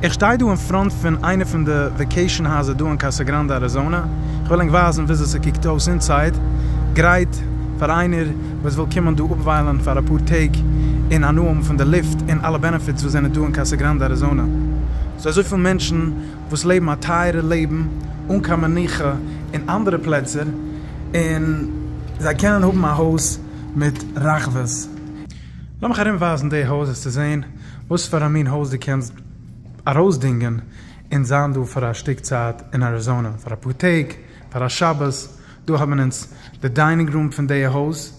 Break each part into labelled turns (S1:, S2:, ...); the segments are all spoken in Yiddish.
S1: איך שטיי דא אין פראנט פון איינע פון די וועקעישאן הייזער דא אין קאסא גראנדע אריזאנע, איך וועל ענק ווייזן וויאזוי ס'קוקט אויס אינסייד, גרייט פאר איינער וואס וויל קומען דא אפוויילן פאר אפאר טעג אין הנאה האבן פון די לופט און אלע בענעפיטס וואס זענען דא אין קאסא גראנדע אריזאנע. ס'דא אזויפיל מענטשן וואס לעבן א טייערע לעבן אן קיין מנוחה אין אנדערע פלעצער און זיי קענען האבן א הויז מיט רחבות. לאמיך ארום ווייזן די הויז אז צו זעהן וואס פאר א מין הויז דו קענסט ארויס דינגען און זיין דא פאר א שטיק צייט אין אריזאנע פאר אפאר טעג פאר א שבת, דא האבן אונז די דיינינג רום פון די הויז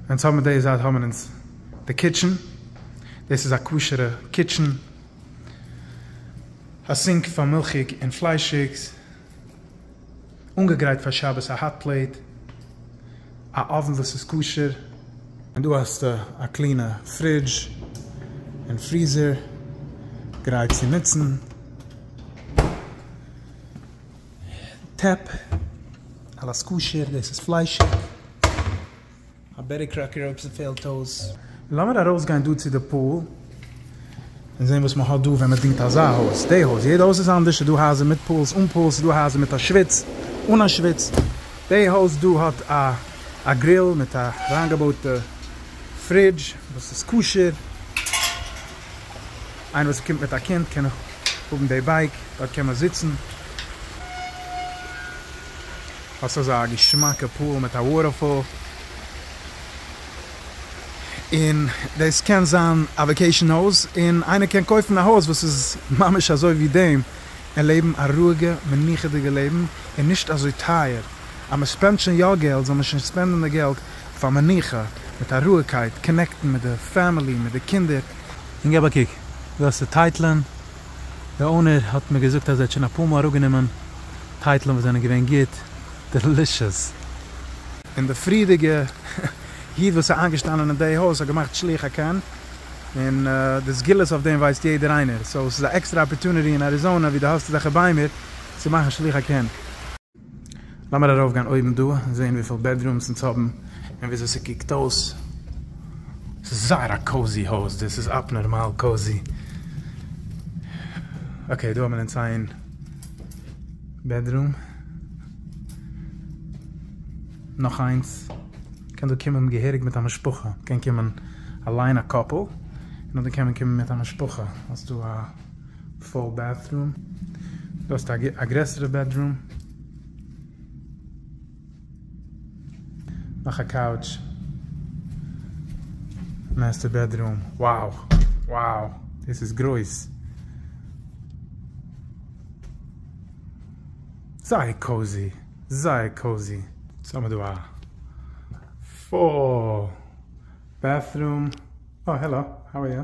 S1: ווען צו האבן די זייט האבן אונז די קיטשען דאס איז א כשרע קיטשען א סינק פאר מילכיג און פליישיגס. אנגעגרייט פאר שבת א האט פלעיט, א אוון וואס איז כשר, און דא האסטו א קלינע פרידזש און פריזער גרייט צו נוצן, טעפ, אלעס כשר, דאס איז פליישיג. א בעטי קראקער אויב ס'פעלט אויס. לאמיר ארויסגיין דא צו די פאול און זעהן וואס מ'האט דא ווען מ'דינגט אזא הויז, די הויז, יעדע הויז איז אנדערש, ס'דא הייזער מיט פאולס, אן פאולס, ס'דא הייזער מיט א שוויץ, אן א שוויץ, די הויז דא האט א א גריל מיט א אריינגעבויטע פרידזש וואס איז כשר, איינער וואס קומט מיט א קינד קען האבן די בייק, דארט קען מען זיצן. האסט אזא געשמאקע פול מיט א וואטערפאל, און דאס קען זיין א וואקעישאן הויז, און איינער קען קויפן א הויז וואס איז ממש אזוי ווי דעם, און לעבן א רואיגע מנוחה'דיגע לעבן, און נישט אזוי טייער, אז מען ספענדט שוין יא געלט זאל מען שוין ספענדן די געלט אויף א מנוחה, מיט א רואיגקייט, קאנעקטן מיט די פעמילי, מיט די קינדער. און געב א קוק, דא האסטו טייטלען. די אונער האט מיר געזאגט אז ער האט שוין אפאר מאל אראפגענומען טייטלען וואס זענען געווען גוט דעלישעס. און די פריערדיגע איד וואס איז איינגעשטאנען אין די הויז האט געמאכט שלוח הקן, און די סגולות אויף דעם ווייסט יעדער איינער, סאו ס'איז א עקסטרע אפערטוניטי אין אריזאנע ווי די האסט אזעלכע ביימער צו מאכן שלוח הקן. לאמיר ארויף גיין אויבן דא און זעהן וויפיל בעדרומס אונז האבן און וויאזוי ס'קוקט אויס. ס'איז זייער א קאוזי הויז דאס איז אפנארמאל קאוזי. אקעי דא האבן אונז איין בעדרום. נאך איינס. מ'קען דא קומען געהעריג מיט א משפחה. מ'קען קומען אליין א קאפל. און אדער קען מען קומען מיט א משפחה. האסטו א. פול בעדרום, דו האסט א גרעסערע בעדרום, נאך א קאוטש, מעסטער בעדרום, wow wow דאס איז גרויס, זייער קאוזי זייער קאוזי, סאו האמיר דא א פול בעדרום, אוי העלא האו אר יו.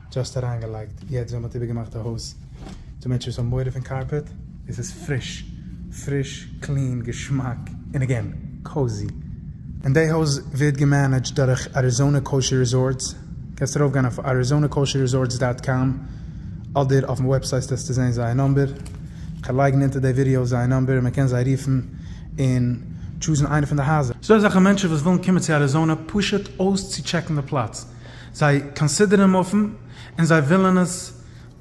S1: דזשאסט אריינגעלייגט יעצט ווען מ'האט איבערגעמאכט די הויז, ס'דא מענטשן וואס האבן מורא פון קארפעט. עס איז פריש, פריש, קלין, געשמאק, און אגעין, קאוזי. און די הויז ווערט געמענעדזשט דורך אריזאנע קאושער ריזארטס, קענסט ארויפגיין אויף אריזאנע קאושער ריזארטס דאט קאם, אדער אויפן וועבסייט וועסטו זען זייער נאמבער, כ'וועל לייגן אונטער די ווידיאו זייער נאמבער און מ'קען זיי רופן און טשוזן איינע פון די הייזער. ס'דא אזעלכע מענטשן וואס ווילן קומען צו אריזאנע פשוט אויסצוטשעקן די פלאץ. זיי קאנסידערן מופן און זיי ווילן עס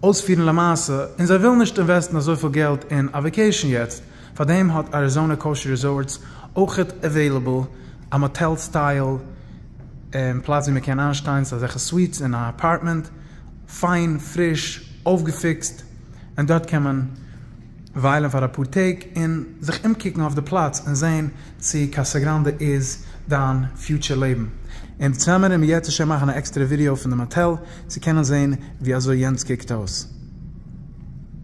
S1: אויספירן למעשה און זיי ווילן נישט אינוועסטן אזויפיל געלט אין א וועקעישן יעצט, פארדעם האט אריזאנע קאושי ריזארטס אויכעט עוועילעבל א מאטעל סטייל פלאץ ווי מען קען איינשטיין, ס'איז אזעלכע סוויטס אין א אפארטמענט, פיין, פריש, אויפגעפיקסט, און דארט קען מען וויילן פאר אפאר טעג און זיך אומקוקן אויף די פלאץ און זעהן צו קאסא גראנדע איז דיין פיוטשער לעבן. און צוזאמען וועלן מיר יעצט השם מאכן א עקסטערע ווידעא פון די מאטעל צו קענען זעהן ווי אזוי יענץ קוקט אויס.